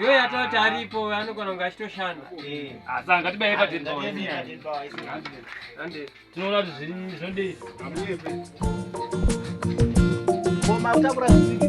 Iwe yatoti aripo anogona kunge achitoshanda. Eh. Asi ah, angatibaye patiri paonzi. Tinoona kuti zviri zvondei. Koma utakura zvinhu.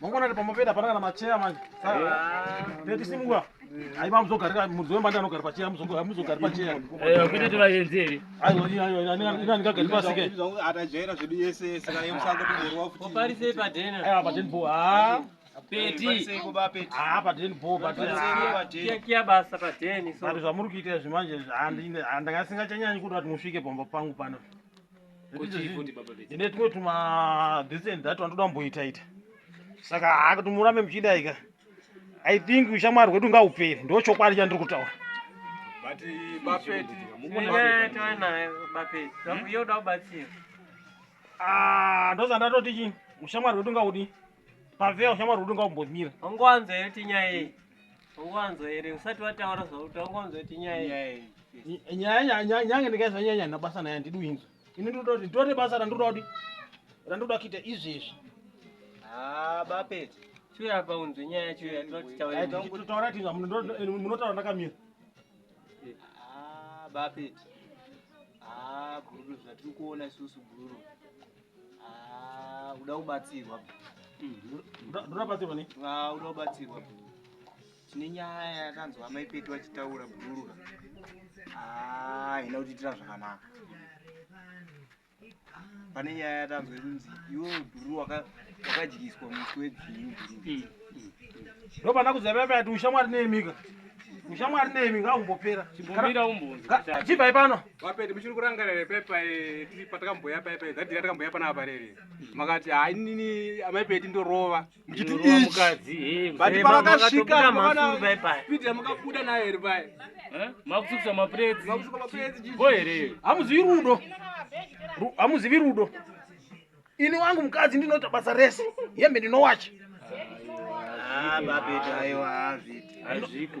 Mangwana ndipo mopenda pana kana macheya manje. Tete simwa. Aiba muzogarira mudzi wembanda anogara pacheya muzogo muzogara pacheya. Eh kuti tivayenzi iri. Ayo ayo ina ndikagara pasi ke. Atajaira zvedu yese yese kana yemusango tumurwa futi. Oparise padena. Eh padena bo. Ah. Peti. Ah padena bo padena. Kia kia basa padena. Sari zvamuri kuita izvi manje handinga singachanyanyi kuda kuti musvike pomba pangu pano. ine tumwe tuma this and that wanotoda kumboita ita saka haka tumurame muchidaika i think ushamwari hwedu ngaupere ndo chokwadi chandiri kutaura ah, ndoza ndatoti chii ushamwari hwedu ngaudi pavea ushamwari hwedu ngaumbomira ungowanza yoti nyaya iyi Wanzwa here usati wataura zvauti wangonzwa kuti nyaya nyaya nyaya nyange ndikaisa nyaya nyaya nabasa naye handidi uinzwa ini ndinoda kuti nditore basa randinoda kuti randinoda kuita izvezvi ah, bapete chiuya apa unzwe nyaya yacho yatinotaura tinzwa munotaura ndakamira ah, bapete ah, gururu zvatiri kuona isusu gururu Ah, uda kubatsirwa. Ndoda batsirwa ne? Ah, uda kubatsirwa. Tine nyaya yakanzwa amai Petu vachitaura bhurura. Ah, ina kutiitira zvakanaka. Pane nyaya yatanzwa inzi iwe bhururu waka- wakadyiswa musi webhinyu bhururu. Ndopanda kuziva paya kuti ushamwari neimika. Ushamwari neimika aumbopera. Chimbomira umbunzi. Chibvai pano. Vapedi muchiri kurangarira here paipa tiri patakamboya paipa here dhadhira takamboya panapa pare here makati hayi nini amai pedi ndorova muchiti ichi but pavakasvika pidi yamakabuda nayo here paye makusukusa mapredzi makusuka mapredzi bo here hamuzivi rudo hamuzivi rudo ini wangu mukadzi ndinoita basa rese hembe ndinowacha ah, babedi aiwa hazviti hazviko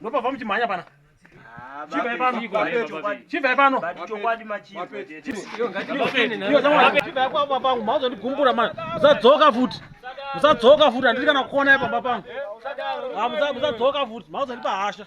ndopava muchimhanya pana chibvai pano chibvai pano chibvai kwaba pangu mauzondigumbura mani musadzoka futi musadzoka futi handiti kana kuonai pamba pangu musadzoka futi mauzondipa hasha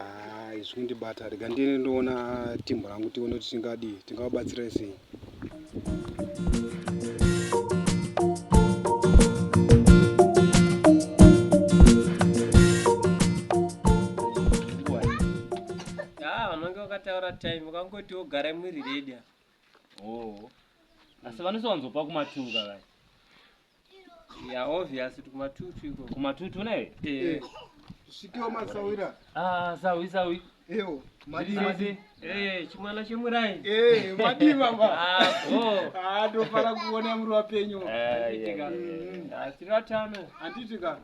Ah, izvi kundibata rega ndiende ndoona timbo rangu tione kuti tingadii tingavabatsira sei Ah, unenge wakataura time ukangoti wogara mwiri redia oh asi vanosowanzopa kumatunga vaya Yeah, obvious kuti kumatutu iko. Kumatutu ne? Eh. eh. Tusvikewo masawira. Ah, sawi sawi. Ewo, madi madi. Eh, chimwana chemurai. Eh, madi baba. Ah, oh. Ah, ndofara kuona muri wapenyu. Eh, yeah, yeah, yeah. Asi vatano. Anditi kana.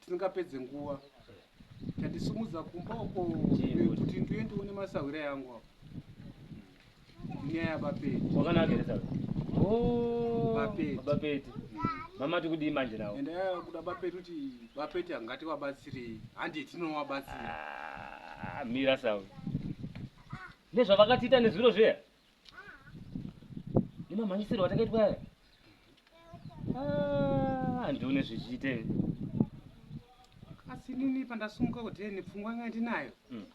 tisingapedze nguva tandisumudza kumba uko kuti ndiuye ndione masahwira yangu apo nyaya bapeti wakanakirisa oh, bapeti bapeti mama tiri kudii manje nawo ende yaya kuda bapeti kuti bapeti angati wabatsirei handi tinowabatsira ah, mira sawo nezvavakatiita nezviro zviya nemamhanyisirwo atakaitwa aya ah, handione zvichiite asi nini pandasumuka kuti nepfungwa yanga ndinayo hmm.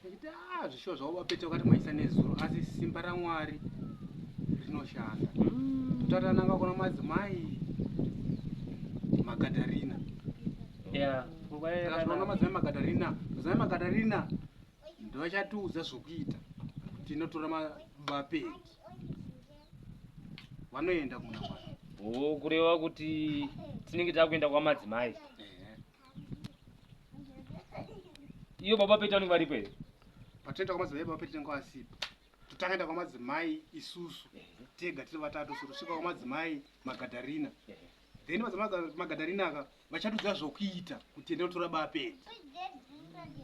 ndikuti a ah, zvishuwa zvavo vapeta vakati maisa nezuro asi simba ramwari rinoshanda hmm. totatananga kuna madzimai magadarina yeah. Takazoona madzimai makatarina madzimai makatarina ndovachatiudza zvokuita tinotora mabapeki vanoenda kumuna mwana oo kureva kuti tinenge takuenda kwamadzimai iyo baba peti vanenge varipo here patinoenda kwamadzimai baba peti tinenge vasipo totakaenda kwamadzimai isusu tega tiri vatatu so tosvika kwamadzimai magadarina then madzimai magadarina aka vachatudza zvokuita kuti enda utora bapedzi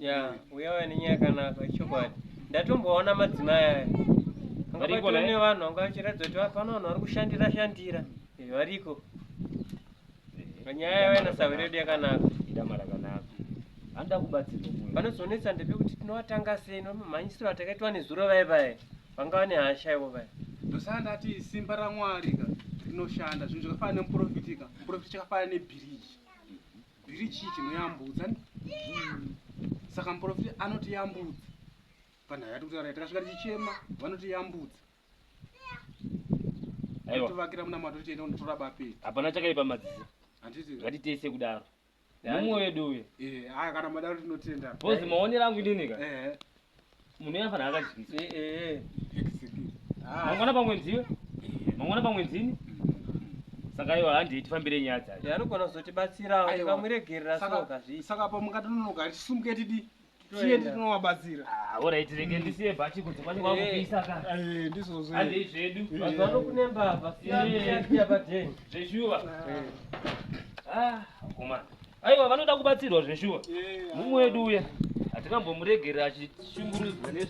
ya uya waya nenyaya yakanaka chokwadi ndatomboona madzimai aya Variko, ne eh? vanhu vanga vachiratidza kuti vapano vanhu vari kushandira shandira Eh, variko Eh, nyaya yavo inasahwira yedu yakanaka idama rakanaka anoda kubatsirwa munhu. panozonetsa ndepekuti tinowatanga sei nomamhanyisiro atakaitwa nezuro vaye vaye Vanga vane hasha ivo vaya. Ndosaka ndati simba raMwari ka rinoshanda zvinhu zvakafanana nemuprofiti ka muprofiti chakafanana nebhiriji bhiriji chinoyambudza saka muprofiti anotiyambudza panhau yati kutaura takasvika tichichema vanotiyambudza aiwa tovakira munamato tichienda kunotora bapeti hapana chakaipa madzisi handiti ngatiite sekudaro mumwe wedu uye eh haya kana madaro tinotenda boss maonera angu ndini ka eh munhu yafa na akadyisa eh eh ah. mangwana pamwe ndiwe eh. mangwana pamwe ndini saka iwa handi tifambire nyaya dzacho anogona kuzotibatsirawo tikamuregerera saka saka pamwe ngatinonoka tisumuke tidi tiende tinovabatsira ah, orit rege mm. ndisiye bhachi kunze kwacho kwakupisa eh. ka eh, ndizvozvo handei zvedu eh. mazuva ano kune mbavha siyaia padeni zveshuwa akomana ah, aiwa vanoda kubatsirwa zveshuwa mumwe wedu uya hatingambomuregerera achishungurudzwa nezvi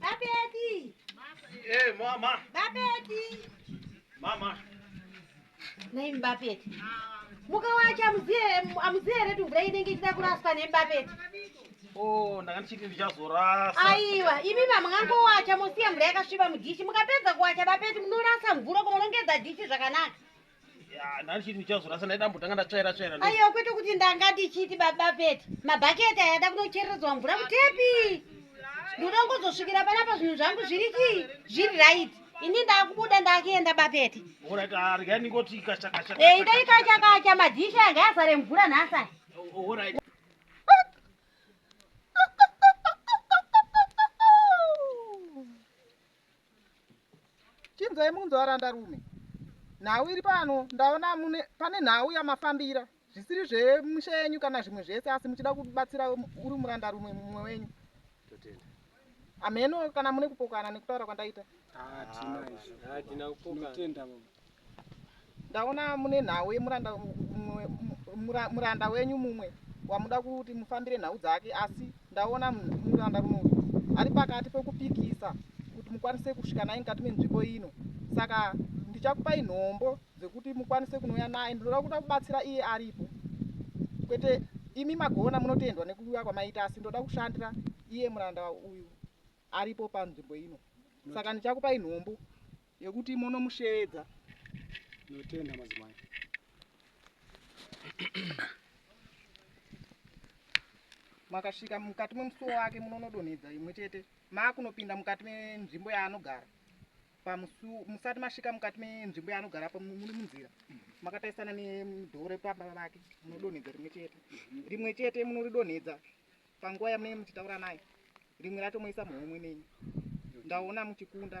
Babedi. Eh, mama. Babedi. Mama. Nei Babedi. Muka wacho amuziye amuziye here kuti mvura inenge ichida kuraswa nei Babedi. Oh, ndanga ndichiti ndichazorasa. Aiwa, imi mamangangowacha mosiya mvura yakasviba mudhishi. Mukapedza kuwacha Babedi munorasa mvura kunorongedza dhishi zvakanaka. ndandichiti ndichazorasa ndaida mbotanga ndatsvaira tsvaira aiwa kwete kuti ndanga ndichiti baba pete mabhaketi aya da kunochereredzwa mvura kutepi ndoda kuzosvikira panapa zvinhu zvangu zviri chii zviri right ini ndakubuda ndakuenda bapete eh, idai kachakacha madhishi anga azare mvura nhasa chinzwai munzwa varanda rume nhau iri pano ndaona mune pane nhau yamafambira zvisiri zvemusha yenyu kana zvimwe zvese asi muchida kubatsira uri muranda rume mumwe wenyu ameno kana mune kupokana nekutaura kwandaita ah, Ndaona mune nhau yemuranda muranda wenyu mumwe wamuda kuti mufambire nhau dzake asi ndaona muranda muno ari pakati pekupikisa kuti mukwanise kusvika naye mukati menzvimbo ino saka ndichakupai nhombo dzekuti mukwanise kunouya naye ndinoda kuda kubatsira iye aripo kwete imi magona munotendwa nekuuya kwamaita asi ndoda kushandira iye muranda uyu aripo panzvimbo ino saka ndichakupai nhombo Yekuti monomusheedza. Notenda madzimai. Makasvika mukati memusuwo wake munonodonhedza imwe chete makunopinda mukati menzvimbo yaanogara pamusuwo musati masvika mukati menzvimbo yaanogara pa muri munzira makataisana nedhoo repamba vake munodonhedza rimwe chete rimwe chete munoridonhedza panguva yamunenge muchitaura naye rimwe racho moisa muhomwe nenyu ndaona muchikunda